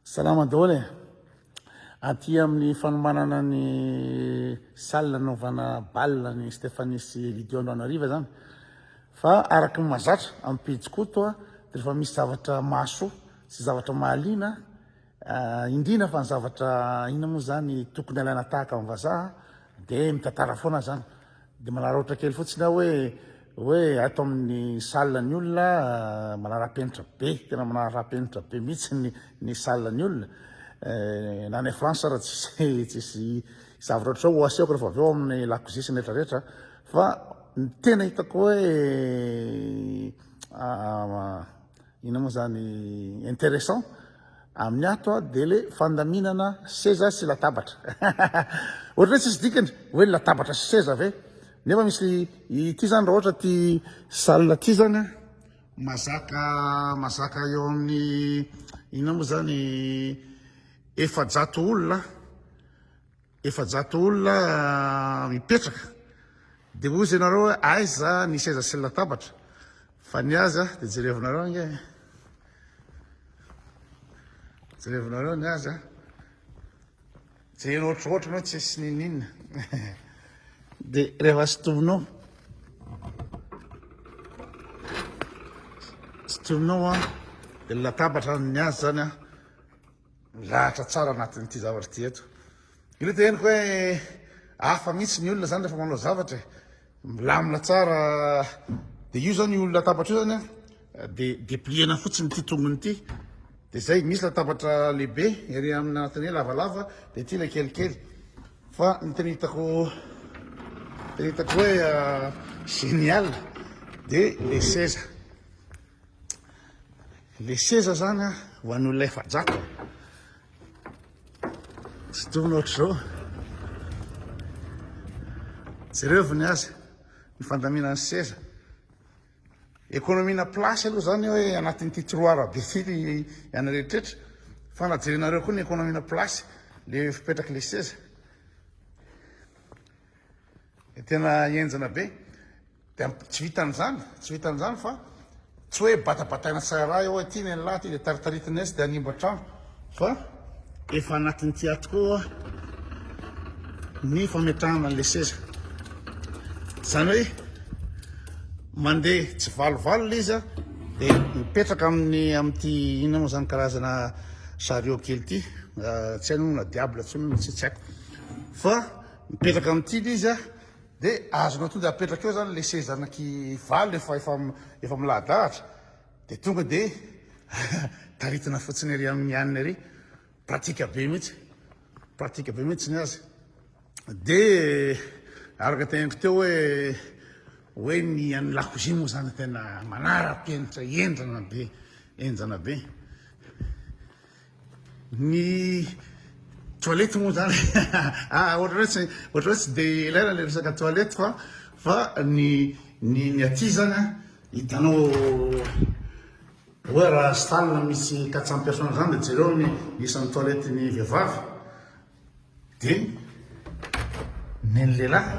Salama daholo e! Aty amin'ny fanomanana ny salle nanaovana bal ny Stéphanie sy Elidio Androanariva zany fa araka ny mazatra amin'ny pejy koto a de rehefa misy zavatra mahasoa sy zavatra mahaliana ah, indrina fa ny zavatra ina moa zany tokony alaina tahaka amin'ny vazaha de mitantara foana zany Dia manararaotra kely fotsiny aho hoe hoe ato amin'ny salle ny olona ah, manara-penitra be, tena manara-penitra be mihitsy ny ny salle ny olona. Eh, na any France ara tsisy tsisy zavatra ohatr'izao ho asehoko rehefa avy eo amin'ny lakozia sy ny rehetra rehetra fa ny tena hitako hoe ah, Inona moa zany interessant amin'ny ato a de le fandaminana seza sy latabatra ohatra hoe tsisy dikany hoe latabatra sy seza ve nefa misy ity zany raha ohatra ty salle ty zany a mazaka mazaka eo amin'ny inona moa zany efajato olona Efajato olona mipetraka dia hozy ianareo hoe aiza ny seza sy ny latabatra fa ny azy dia jerevinareo ange jerevinareo ny azy jerena ohatrohatra ianao tsy sy nininona dia rehefa sotominao sotominao a dia latabatra ny azy zany a Milahatra tsara anatin'ity zavatra ity eto. Io le teneniko hoe hafa mihitsy ny olona zany rehefa manao zavatra e. Milamina tsara. Dia io zany io latabatra io zany a dia depliena fotsiny ity tongony ity. Dia zay misy latabatra lehibe ery amin'ny anatin'ny hoe lavalava dia ity ilay kelikely. Fa ny tena hitako tena hitako hoe génial dia le seza. Le seza zany a ho an'olona efajato tsy tokony ohatr'izao jereo ny azy ny fandaminan'ny seza ekonomina place aloha zany hoe anatin'ity tiroara be ty ianareo rehetra fa na jerenareo koa ny ekonomina place le fipetraky le seza Tena henjana be. Dia tsy vitan'izany, tsy vitan'izany fa tsy hoe batabataina tsara eo hoe ty ny an'lah, ty dia taritaritina etsy dia hanimba trano fa efa anatin'ity ato koa ny fametrahana an'ilay seza. Izany hoe mandeha tsy valivalona izy dia mipetraka amin'ny amin'ity inona moa izany karazana chariot kely ity, tsy hainona na diable tsy tsy haiko fa Mipetraka amin'ity le izy a, de azonao tonga apetraka eo zany le seza anaky valo efa efa efa milahadahatra de tonga de taritina fotsiny ery amin'ny aniny ery, pratika be mihitsy, pratika be mihitsy ny azy. De araka teneniko teo hoe hoe ny an'ny lakozia moa zany tena manara-penitra henjana be, henjana be. Ny toilette moa zany ohatra hoe tsy ohatra hoe tsy dia ilaina ilay resaka toilette fa fa ny ny ny aty zany a hitanao hoe raha stana misy quatre cent personnes zany dia jereo ny isan'ny toilette ny vehivavy dia ny an'ny lehilahy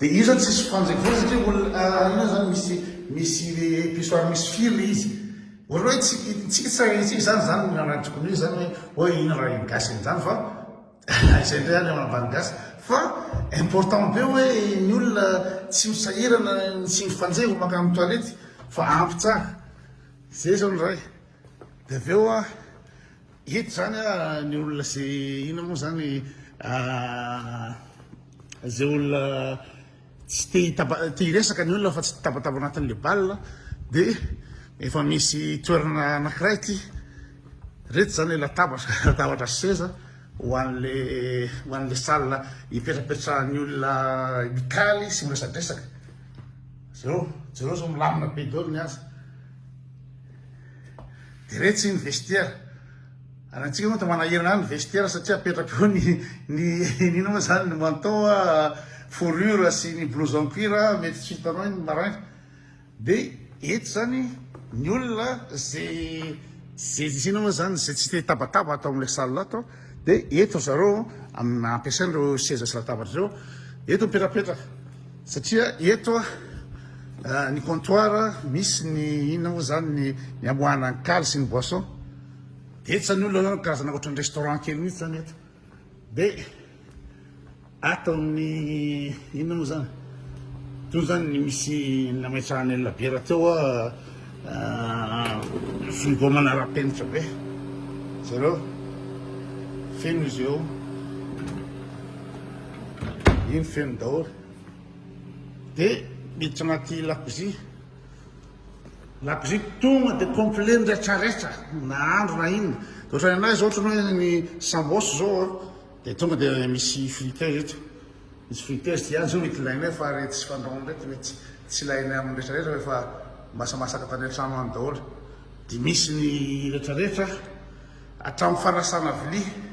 Dia io zany tsisy fanjaka foana satria olona inona zany misy misy pissoir misy fil le izy. Ohatra hoe tsy tsy tsy raharintsika zany zany ny nanatriko an'io zany hoe hoe inona raha iny gasy iny zany fa izay indray any ambany gasy fa important be hoe ny olona tsy misahirana ny tsy mifanjevo mankany toilette fa ampy tsara. Zay zao ny ray. Dia avy eo an, ito izany an, ny olona izay inona moa izany, izay olona tsy te hitaba, te hiresaka ny olona fa tsy tabataba ao anatin'ilay bal an, dia efa misy toerana anankiray ity, ireto izany ilay latabatra, latabatra sy seza ho an'ilay, ho an'ilay salle ipetrapetrahan'ny olona mikaly sy miresadresaka. Jereo, jereo izao milamina be daholo ny azy. Dia retsy ny vestiaire. Ary antsika moa manahirana any ny vestiaire satria apetraka eo ny ny inona moa zany ny manteau fourrure sy ny blouson cuir mety tsy hitanao iny marin. Dia eto zany ny olona izay izay tsy inona moa zany izay tsy te hitabataba ato amin'ilay salle ato dia eto zareo amina ampiasaina ireo seza sy latabatra ireo eto mipetrapetraka. Satria eto ny comptoir misy ny inona moa zany ny ny amoahana ny kaly sy ny boisson. Betsany olona zany karazana ohatran'ny restaurant kely mihitsy zany eto. De ato amin'ny inona moa zany? Toy zany ny misy nametrahana ny labiera teo frigo manara-penitra be. Jereo. Feno izy eo. Iny feno daholo. Dia miditra anaty lakozia. Lakozia tonga dia complet ny retraretra. Nahandro na inona. Dia ohatran'ny anay izao ohatran'ny hoe ny sambos izao a. Dia tonga dia misy frites eto. Misy frites dia ihany izao mety ilainay fa ireny tsy fandrahoina ireny dia mety tsy ilainay amin'ny retraretra fa efa masamasaka tany an-trano any daholo. Dia misy ny retraretra hatramin'ny fanasana vilia.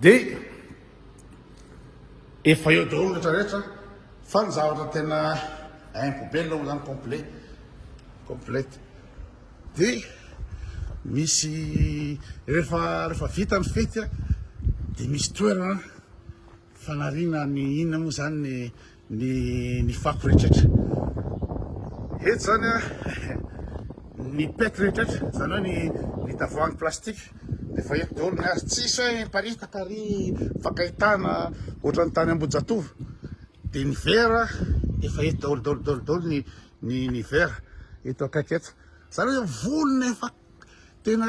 Dia efa eo daholo rehetra rehetra fa ny zavatra tena info be aloha zany complet complete dia misy rehefa rehefa vita ny fety dia misy toerana fanariana ny inona moa zany ny Ny ny fako rehetrretra eto zany a ny pet rehetrretra zany hoe ny ny tavoahangy plastique de efa eto daholo ny azy tsisy hoe miparitaka ary mifankaitana ohatran'ny tany ambohijatovo de ny vera efa eto daholo daholo daholo daholo ny ny ny vera eto akaiky eto zany hoe volona efa tena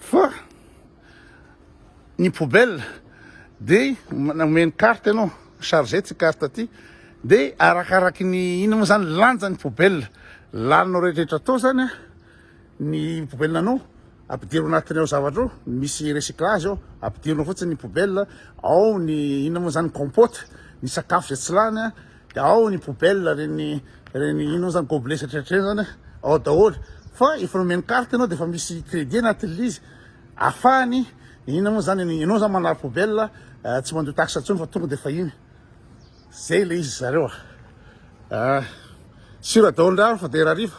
Fa ny poubelle dia omeny carte ianao, chargé ity carte ity, dia arakaraky ny inona moa izany lanja ny poubelle laninao rehetrarehetra tao izany an, ny poubelle anao ampidiro anatiny ao zavatra ao, misy recyclage ao, ampidirina fotsiny ny poubelle ao ny inona moa izany compote, ny sakafo izay tsy lany an. Ao ny poubelle reny reny ino zany gobelet satratray zany ao daholo fa efa nomeny carte ianao dia efa misy crédit anatin'ilay izy afahany ina moa zany ianao zany manary poubelle eh, tsy mandoa taxe intsony fa tonga dia efa iny zay ilay izy zareo ah. ah sira daholo ndraro fa dia rariva